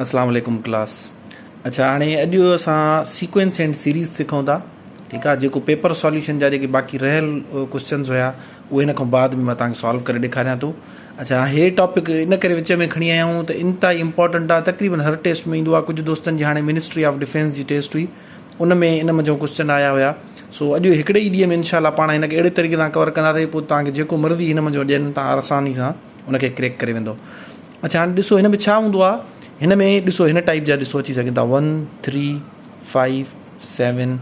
اسلام عليڪم ڪلاس اڇا هاڻي اڄ اسان سيڪوينس اينڊ سيريز سکون ٿا ٺيڪ آ جيڪو پيپر سوليوشن جا جيڪي باقي رهيل ڪويسچنز هيا اهي هن کان بعد ۾ مان توهان کي سالو ڪري ڏيکاريان ٿو اڇا هي ٽاپڪ ان ڪري وچ ۾ کڻي آيا آهيون ته انتهائي امپورٽنٽ آ تقريبن هر ٽيسٽ ۾ ايندو آ ڪجهه دوستن جي هاڻي منسٽري آف ڊفينس جي ٽيسٽ هئي ان ۾ ان منجهو ڪويسچن آيا هيا سو اڄ هڪڙي ئي ڏينهن ۾ انشاء الله پاڻ هن کي اهڙي طريقي سان ڪور ڪنداسي پوء توهان کي جيڪو مرضي هن منجهو ڏين توهان آساني سان ان کي ڪريڪ ڪري ويندو اڇا هاڻي ڏسو هن ۾ ڇا هوندو آ هن ۾ ڏسو هن ٽائيپ جا ڏسو اچي سگهن ٿا one three five seven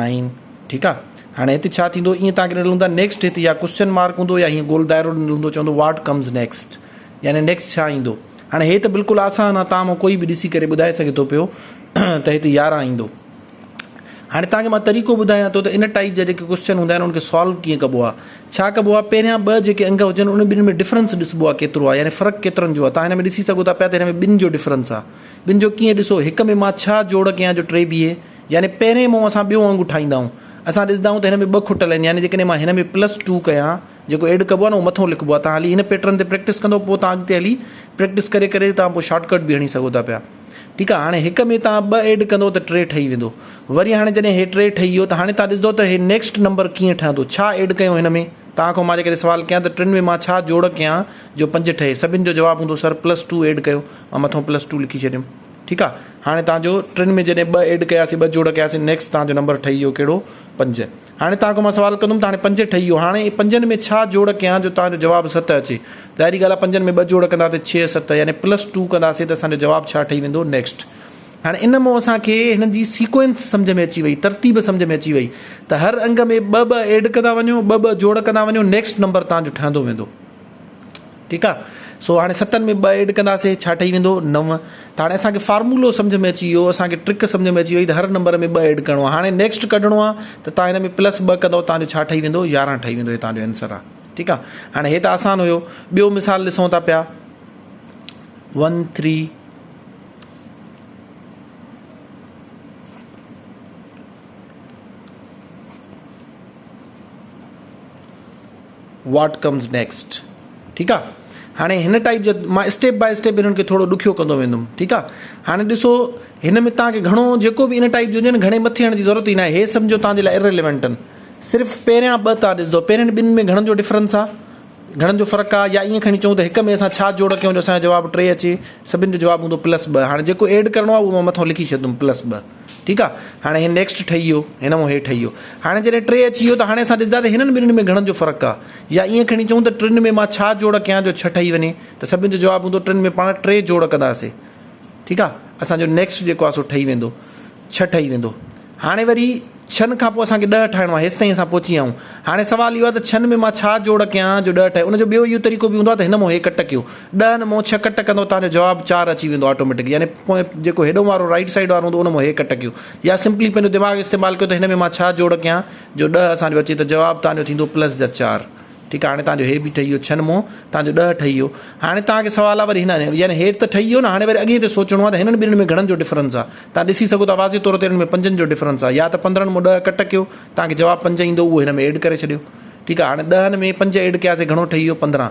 nine ٺيڪ آ هاڻي هتي ڇا ٿيندو ائين تان ڏنل هوندا نيڪسٽ هتي يا ڪوشچن مارڪ هوندو يا هيئن گول دائرو ڏنل هوندو چوندو واٽ ڪمز نيڪسٽ يعني نيڪسٽ ڇا ايندو هاڻي هي ته بلڪل آسان آ تان مان ڪوئي به ڏسي ڪري ٻڌائي سگهي ٿو پيو ته هتي يارهن ايندو هاڻي تهانکي مان طريقو ٻڌايان ٿو ته ان ٽائيپ جا جيڪي ڪوسچن هوندا آهن ان کي سالو ڪيئن ڪبو آهي ڇا ڪبو آهي پهريان ٻه جيڪي انگ هجن ان ٻن ۾ ڊفرنس ڏسبو آهي ڪيترو آهي يعني فرق ڪيترن جو آهي تهان هن ۾ ڏسي سگهو ٿا پيا ته هن ۾ ٻن جو ڊفرنس آهي ٻن جو ڪيئن ڏسو هڪ ۾ مان ڇا جوڙ ڪيان جو ٽي بيهي يعني پهرين مون اسان ٻيو انگ ٺاهيندا آهيون اسان ڏسندا آهيون ته هن ۾ ٻه کٽل آهن يعني جيڪڏهن مان هن ۾ پلس ٽو ڪيان جيڪو ايڊ ڪبو آهي نه اهو مٿو لکبو آهي تان هلي هن پيٽرن تي پريڪٽس ڪندو پوء تان اڳتي هلي پريڪٽس ڪري ڪري تان پوء شارٽ ڪٽ به هڻي سگهو ٿا پيا ٺيڪ آهي هاڻي هڪ ۾ تان ٻه ايڊ ڪندو ته ٽي ٺهي ويندو وري هاڻي جڏهن هي ٽي ٺهي ويو ته هاڻي تان ڏسندو ته هي نيڪسٽ نمبر ڪيئن ٺهندو ڇا ايڊ ڪيو هن ۾ تان کان مان جي ڪري سوال ڪيان ته ٽن ۾ مان ڇا جوڙ ڪيان جو پنج ٺهي سڀن جو جواب هوندو سر پلس ٽو ايڊ ڪيو مان مٿو پلس ٽو لکي ڇڏيم ٺيڪ آهي هاڻي تان جو ٽن ۾ جڏهن ٻه ايڊ ڪياسي ٻه جوڙ ڪياسي نيڪسٽ تان جو نمبر ٺهي ويو ڪهڙو پنج هاڻي توهان کان مان سوال ڪندم ته هاڻي پنج ٺهي ويو هاڻي اهي پنجن ۾ ڇا جوڙ ڪيان جو توهان جو جواب ست اچي ظاهري ڳالهه آهي پنجن ۾ ٻه جوڙ ڪنداسي ڇهه ست يعني پلس ٽو ڪنداسي ته اسان جو جواب ڇا ٺهي ويندو نيڪسٽ هاڻي ان مون اسان کي هنن جي سيڪوئنس سمجهه ۾ اچي وئي ترتيب سمجهه ۾ اچي وئي ته هر انگ ۾ ٻه ٻه ايڊ ڪندا وڃو ٻه ٻه جوڙ ڪندا وڃو نيڪسٽ نمبر توهان جو ٺهندو ويندو. ٺيڪ آ سو هاڻي ستن ۾ ٻه ايڊ ڪنداسي ڇا ٺهي ويندو نو ته هاڻي اسان کي فارمولو سمجهه ۾ اچي ويو اسان کي ٽرڪ سمجهه ۾ اچي وئي ته هر نمبر ۾ ٻه ايڊ ڪرڻو آ هاڻي نيڪسٽ ڪڍڻو آ ته تان هن ۾ پلس ٻه ڪندو تان جو ڇا ٺهي ويندو يارهن ٺهي ويندو هي تان جو آنسر آ ٺيڪ آ هاڻي هي ته آسان هيو ٻيو مثال ڏسون ٿا پيا one three what comes next ٺيڪ آ هاڻي هن ٽائيپ جا مان اسٽيپ بائي اسٽيپ هنن کي ٿورو ڏکيو ڪندو ويندم ٺيڪ آ هاڻي ڏسو هن ۾ تان کي گهڻو جيڪو به ان ٽائيپ جو هجي نه گهڻي مٿي هڻ جي ضرورت ئي نه آهي هي سمجهو تان جي لاء اريليونٽ آهن صرف پهريان ٻه تان ڏسندو پهرين ٻن ۾ گهڻن جو ڊفرنس آ گهڻن جو فرق آ يا ائين کڻي چون ته هڪ ۾ اسان ڇا جوڙ ڪيون جو اسان جو جواب ٽي اچي سڀن جو جواب هوندو پلس ٻه هاڻي جيڪو ايڊ ڪرڻو آ اهو مان مٿو لکي ڇڏندم پلس ٻه ٺيڪ آ هاڻي هي نيڪسٽ ٺهي ويو هن مان هي ٺهي ويو هاڻي جڏهن ٽي اچي ويو ته هاڻي اسان ڏسندا ته هنن ٻنهن ۾ گهڻن جو فرق آ يا ائين کڻي چئون ته ٽن ۾ مان ڇا جوڙ ڪيان جو ڇهه ٺهي وڃي ته سڀني جو جواب هوندو ٽن ۾ پاڻ ٽي جوڙ ڪنداسي ٺيڪ آ اسان جو نيڪسٽ جيڪو آ سو ٺهي ويندو ڇهه ٺهي ويندو هاڻي وري ڇهن کان پوء اسان کي ڏهه ٺاهڻو آ هيستائين اسان پهچي ويا آهيون هاڻي سوال اهو آ ته ڇهن ۾ مان ڇا جوڙ ڪيان جو ڏهه ٺهي ان جو ٻيو اهو طريقو به هوندو آ ته هن مان هي ڪٽ ڪيو ڏهن مون ڇهه ڪٽ ڪندو توهان جو جواب چار اچي ويندو آٽوميٽڪ يعني پوئين جيڪو هيڏون وارو رائيٽ سائيڊ وارو هوندو ان مون هيء ڪٽ ڪيو يا سمپلي پنهنجو دماغ استعمال ڪيو ته هن ۾ مان ڇا جوڙ ڪيان جو ڏهه اسان جو اچي ته جواب توهان جو ٿيندو پلس جا چار ٺيڪ آهي هاڻي توهان جو هي به ٺهي ويو ڇهن مون توهان جو ڏهه ٺهي ويو هاڻي توهان کي سوال آهي وري هن يعني هيٺ ته ٺهي ويو نه هاڻي وري اڳئين تي سوچڻو آهي ته هنن ٻنهين ۾ گهڻن جو ڊفرنس آهي توهان ڏسي سگهو ٿا واضح طور تي هنن ۾ پنجن جو ڊفرنس آهي يا ته پندرهن مون ڏهه ڪٽ ڪيو توهان کي جواب پنج ايندو اهو هن ۾ ايڊ ڪري ڇڏيو ٺيڪ آهي هاڻي ڏهن ۾ پنج ايڊ ڪياسي گهڻو ٺهي ويو پندرهن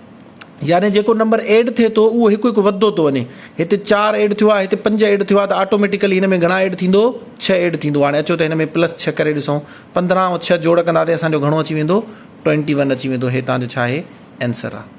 يعني جيڪو نمبر ايڊ ٿئي ٿو اهو هڪ هڪ وڌندو ٿو وڃي هتي چار ايڊ ٿيو آهي هتي پنج ايڊ ٿيو آهي ته آٽوميٽيڪلي هن ۾ گهڻا ايڊ ٿيندو ڇهه ايڊ ٿيندو هاڻي اچو ته هن ۾ پلس ڇهه ڪري ڏسون پندرهن ۽ ڇهه جوڙ ڪنداسين اسانجو گهڻو اچي ويندو ٽوئنٽي ون اچي ويندو هي تان جو ڇا آهي آنسر آهي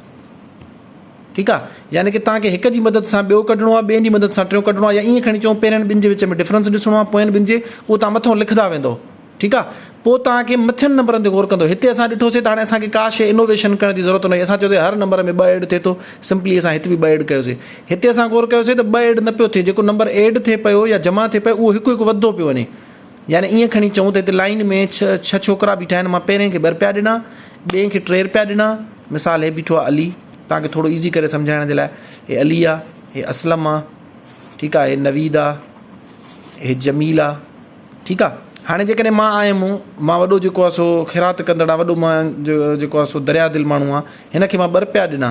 ٺيڪ آ يعني کہ تان کي هڪ جي مدد سان ٻيو ڪڍڻو آ ٻين جي مدد سان ٽيون ڪڍڻو آ يا ايئن کڻي چون پهرين ٻن جي وچ ۾ ڊفرنس ڏسڻو آ پوئين ٻن جي اهو تان مٿو لکدا ويندو ٺيڪ آ پوء توهان کي مٿين نمبرن تي غور ڪندو هتي اسان ڏٺوسي ته هاڻي اسان کي ڪا شيء انوويشن ڪرڻ جي ضرورت ناهي اسان چيوسي هر نمبر ۾ ٻه ايڊ ٿئي ٿو سمپلي اسان هت به ٻه ايڊ ڪيوسي هتي اسان غور ڪيوسي ته ٻه ايڊ نه پيو ٿئي جيڪو نمبر ايڊ ٿئي پيو يا جمع ٿئي پيو اهو هڪ هڪ وڌدو پيو وڃي يعني ائين کڻي چئون ته هتي لائين ۾ ڇهه ڇهه ڇوڪرا بيٺا آهن مان پهرين کي ٻه رپيا ڏنا ٻئي کي ٽي رپيا ڏنا مثال هي بيٺو آ علي توهان کي ٿورو ايزي ڪري سمجهائڻ جي لاء هي علي آ هي اسلم آ ٺيڪ آ هي نويد آ هي جميل آ ٺيڪ آ هاڻي جيڪڏهن مان آيم مان وڏو جيڪو آ سو خيرات ڪندڙ آ وڏو مان جيڪو آ سو دريا دل ماڻهو آ هن کي مان ٻه رپيا ڏنا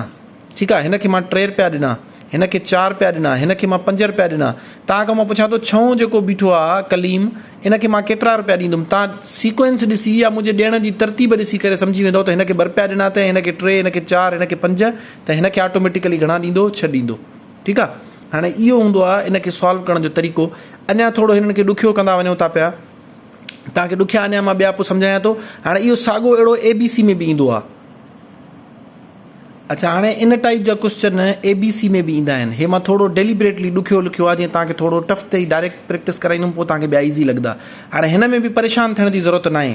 ٺيڪ آ هن کي مان ٽي رپيا ڏنا هن کي چار رپيا ڏنا هن کي مان پنج رپيا ڏنا تان کان مان پڇا ٿو ڇهون جيڪو بيٺو آ ڪليم ان کي مان ڪيترا رپيا ڏيندم تان سيڪوئنس ڏسي يا منهنجي ڏيڻ جي ترتيب ڏسي ڪري سمجهي ويندو ته هن کي ٻه رپيا ڏنا ته هن کي ٽي هن کي چار هن کي پنج ته هن کي آٽوميٽيڪلي گهڻا ڏيندو ڇهه ڏيندو ٺيڪ آ هاڻي اهو هوندو آ ان کي سالو ڪرڻ جو طريقو اڃا ٿورو هنن کي ڏکيو ڪندا وڃون ٿا پيا توهان کي ڏکيا اڃا مان ٻيا پوء سمجهايان ٿو هاڻي اهو ساڳو اهڙو اي بي سي ۾ به ايندو آ اڇا هاڻي ان ٽائپ جا ڪوشچن اي بي سي ۾ به ايندا آهن هي مان ٿورو ڊيليبريٽلي ڏکيو لکيو آ جيئن توهان کي ٿورو ٽف تي ڊائريڪٽ پريڪٽس ڪرائيندم پوء توهان کي ٻيا ايزي لڳدا هاڻي هن ۾ به پريشان ٿيڻ جي ضرورت ناهي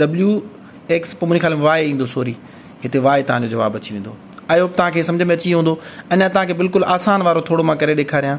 ڊبليو ايڪس پوء منهنجي خيال ۾ واء ايندو سوري هتي واء توهان جو جواب اچي ويندو آئي هوپ توهان کي سمجهه ۾ اچي ويو هوندو اڃا توهان کي بلڪل آسان وارو ٿورو مان ڪري ڏيکاريان